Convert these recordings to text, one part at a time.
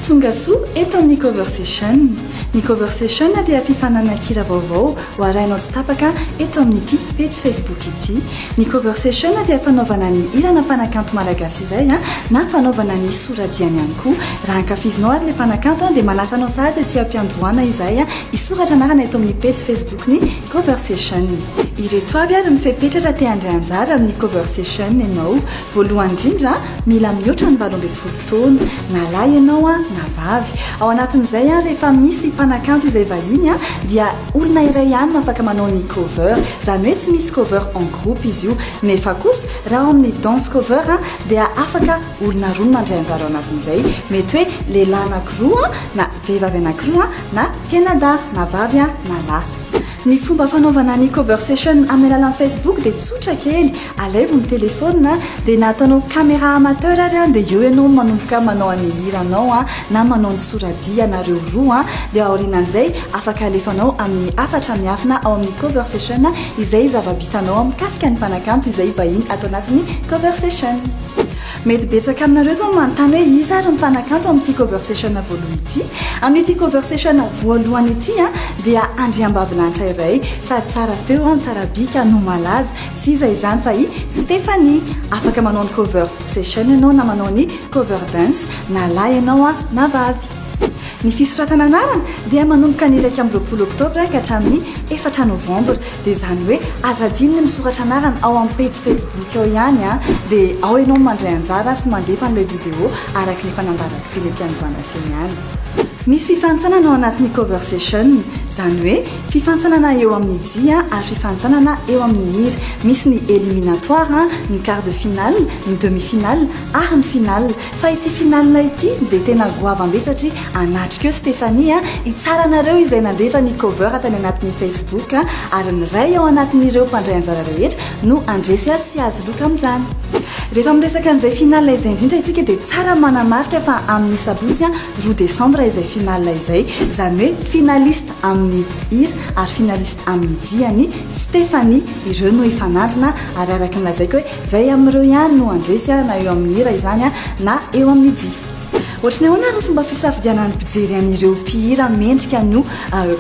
Tongasoa eto amin'ny Cover Session. Ny Cover Session dia fifananankira vaovao ho arahinao tsy tapaka eto amin'ity pejy Facebook ity. Ny Cover Session dia fanaovana ny hirana mpanakanto malagasy iray na fanaovana ny soradiany ihany koa. Raha ankafizinao ary ilay mpanakanto dia manasa anao sahady aty am-piandohana izahay hisoratra anarana eto amin'ny pejy Facebook-ny. Coversation. Ireto avy ary ny fepetra raha te handray anjara amin'ny Coversation ianao. Voalohany indrindra, mila mihoatra ny valo ambin'ny folo taona, na lahy ianao na vavy. Ao anatin'izay, rehefa misy mpanakanto izay vahiny dia olona iray ihany no afaka manao ny cover. Izany hoe tsy misy cover en groupe izy io. Nefa kosa, raha ao amin'ny dance cover dia afaka olona roa no mandray anjara ao anatin'izay. Mety hoe lehilahy anankiroa na. vehivavy anankiroa na mpianada na vavy na lahy. Ny fomba fanaovana ny coversation amin'ny alalan'ny Facebook dia tsotra kely, alaivo ny telefaonina dia na ataonao caméra amateur ary an dia eo ianao manomboka manao an'ny hiranao an na manao ny soradihy ianareo roa an dia aorianan'izay afaka alefanao amin'ny hafatra miafina ao amin'ny coversation izay zava-bitanao mikasika ny mpanakanto izay vahiny ato anatin'ny coversation. Mety betsaka aminareo izao no manontany hoe iza ary ny mpanakanto amin'ity cover session voalohany ity? Amin'ity cover session voalohany ity dia andriambavilanitra iray sady tsara feo no tsara bika no malaza, tsy iza izany fa i Stéphanie. Afaka manao ny cover session ianao na manao ny cover dance na lahy ianao na vavy. Ny fisoratana anarana dia manomboka ny iraika amby roapolo oktobra ka hatramin'ny efatra novambra. Dia izany hoe aza adino ny misoratra anarana ao amin'ny pejy Facebook ao ihany an! Dia ao ianao no mandray anjara sy mandefa an'ilay video araka ny efa nambaran'ny filoham-piandohana feo ihany. Misy fifantsanana ao anatin'ny Coversation, izany hoe fifantsanana eo amin'ny dihy ary fifantsanana eo amin'ny hira. Misy ny eliminatoire, ny quart de finale, ny demi-finale ary ny finale. Fa ity finale ity dia tena goavam be satria anatrika eo Stéphanie a! Hitsara anareo izay nandefa ny cover tany anatin'ny Facebook a! Ary ny iray ao anatin'ireo mpandray anjara rehetra no handresy azy sy hahazo loka amin'izany. Rehefa miresaka an'izay finale izay indrindra isika dia tsara ny manamarika fa amin'ny sabotsy a! roa desambra izay finale izay. Izany hoe finaliste amin'ny hira ary finaliste amin'ny dihy an'i Stéphanie. Ireo no hifanandrina ary araka ny lazaiko hoe Iray amin'ireo ihany no handresy ahy na eo amin'ny hira izany na eo amin'ny dihy. Ohatry ny ahoana ireo fomba fisafidianan'ny mpijery an'ireo mpihira mendrika ny ho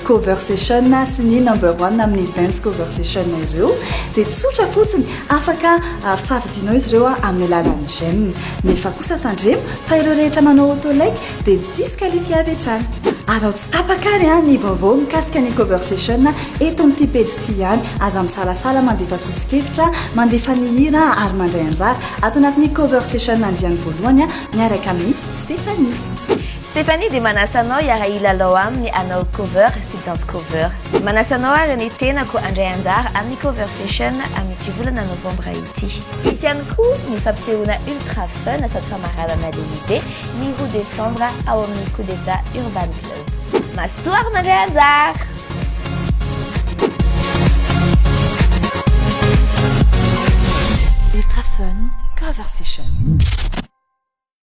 Cover Session sy ny Number One amin'ny Dance Cover Session ireo? Dia tsotra fotsiny, afaka safidianao izy ireo amin'ny alalan'ny j'aime. Nefa kosa tandremo fa ireo rehetra manao auto-like dia disqualifié avy hatrany. Ary ao tsy tapaka ary an, ny vaovao mikasika ny cover session eto amin'ity pejy ity ihany. Aza misalasala mandefa soso-kevitra, mandefa ny hira ary mandray anjara ato anatin'ny cover session andiany voalohany miaraka amin'i Stéphanie. Stéphanie dia manasa anao hiara-hilalao aminy hanao cover sy danse cover. Manasa anao ary ny tenako handray anjara amin'ny cover session amin'ity volana novambra ity. Hisy ihany koa ny fampisehoana ultra fun sady famaranana lehibe. ny roa desambra ao amin'ny Coup d'Etat Urban Club. Mazotoa ary mandray anjara! Ultra Fun Cover Session.